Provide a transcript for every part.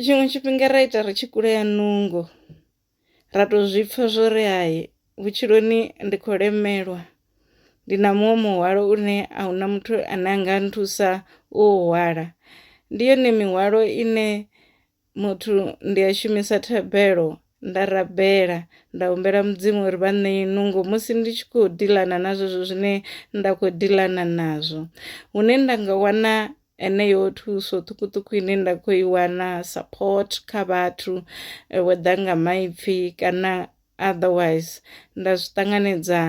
tshiṅwe tshifhinga ra ita ri tshi kulea nungo ra to zwi pfha zwo ri hai vhutshiloni ndi khou lemelwa ndi na muṅwe muhwalo une a huna muthu ane a nga nthusa u hwala ndi yone mihwalo ine muthu ndi a shumisa thabelo nda rabela nda humbela mudzimu uri vha ṋee nungo musi ndi tshi khou dilana na zwezwo zwine nda khou dilana nazwo hune nda nga wana eneyo thuso ṱhukuṱhuku ine nda khou i wana support kha vhathu eh, whether nga maipfi kana otherwise nda zwi ṱanganedza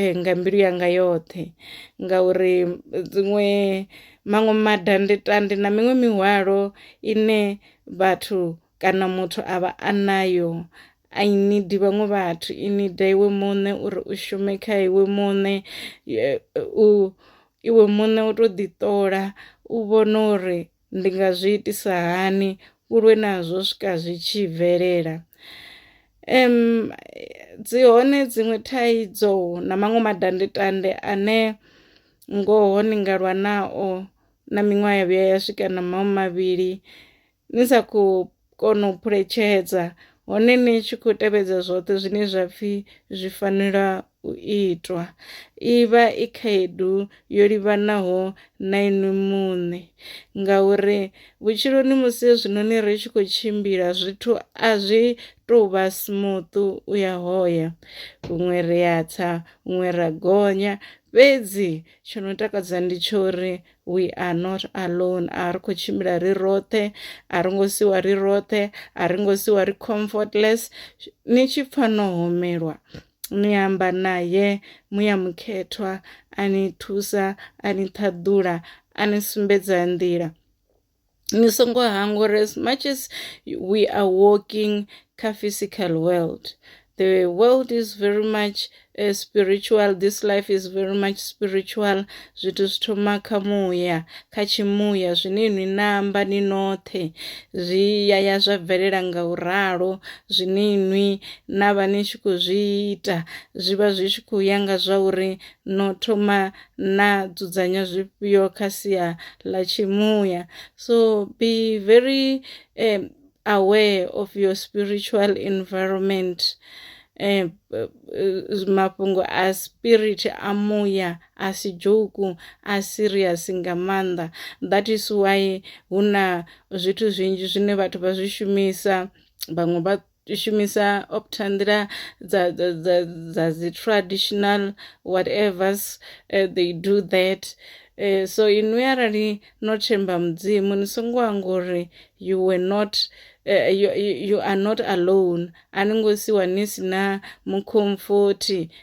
eh, nga mbilu yanga yoṱhe ngauri dziṅwe maṅwe madandetande na miṅwe mihwalo ine vhathu kana muthu a vha a nayo a i nidi vhaṅwe vhathu i nida iwe muṋe uri u shume kha iwe muṋe u iwe muṋe u to ḓi ṱola u vhona uri ndi nga zwi itisa hani u lwe nazwo swika zwi tshi bvelela em dzi hone dziṅwe thaidzo na maṅwe madandetande ane ngoho ni nga lwa nao na miṅwaha ya vhuya ya swika na maṅwe mavhili ni sa khou kona u phuletshedza hone ni tshi khou tevhedza zwoṱhe zwine zwa pfhi zwi fanela u itwa i vha i khaedu yo livhanaho na inwi muṋe ngauri vhutshiloni musi hezwinoni ri tshi khou tshimbila zwithu a zwi tou vha smooth u ya hoya huṅwe ri a tsa huṅwe ra gonya fhedzi tsho no takadza ndi tsho uri we are not alone a ri khou tshimbila ri roṱhe a ri ngo siwa ri roṱhe a ri ngo siwa ri comfortless ni tshi pfha no homelwa ni amba naye muya mukhethwa a ni thusa a ni ṱhaḓula a ni sumbedza nḓila ni songo hangwa uri as much as we are walking kha physical world the world is very much uh, spiritual this life is very much spiritual zwithu zwi thoma kha muya kha tshimuya zwine inwi namba ni noṱhe zwi yaya zwa bvelela nga u ralo zwine inwi na vha ni tshi khou zwi ita zwi vha zwi tshi khou ya nga zwa uri no thoma na dzudzanya zwifhio kha sia ḽa tshimuya so be very um, aware of your spiritual environment um, mafhungo a spirit a muya a si dzhuku a serious nga maanḓa that is why hu na zwithu zwinzhi zwine vhathu vha zwi shumisa vhaṅwe vha u shumisa opta nḓila dza dza dza dza dzi traditional whatevers uh, they do that uh, so inwi arali no themba mudzimu ni songo anga uri you were not uh, you, you are not alone a ni ngo siwa ni si na mukhomfothi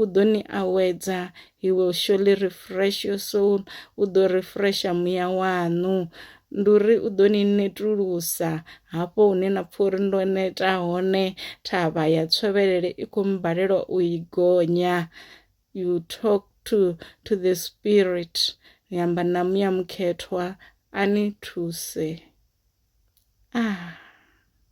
U ḓo ni awedza. He will surely refresh your soul. U ḓo refresha muya waṋu. Ndi uri u ḓo ni netulusa hafho hune na pfha uri ndo neta hone thavha ya tshovhelele i khou mbalelwa u i gonya. You talk to, to the spirit. Ni amba na muya mukhethwa a ni thuse. Ah.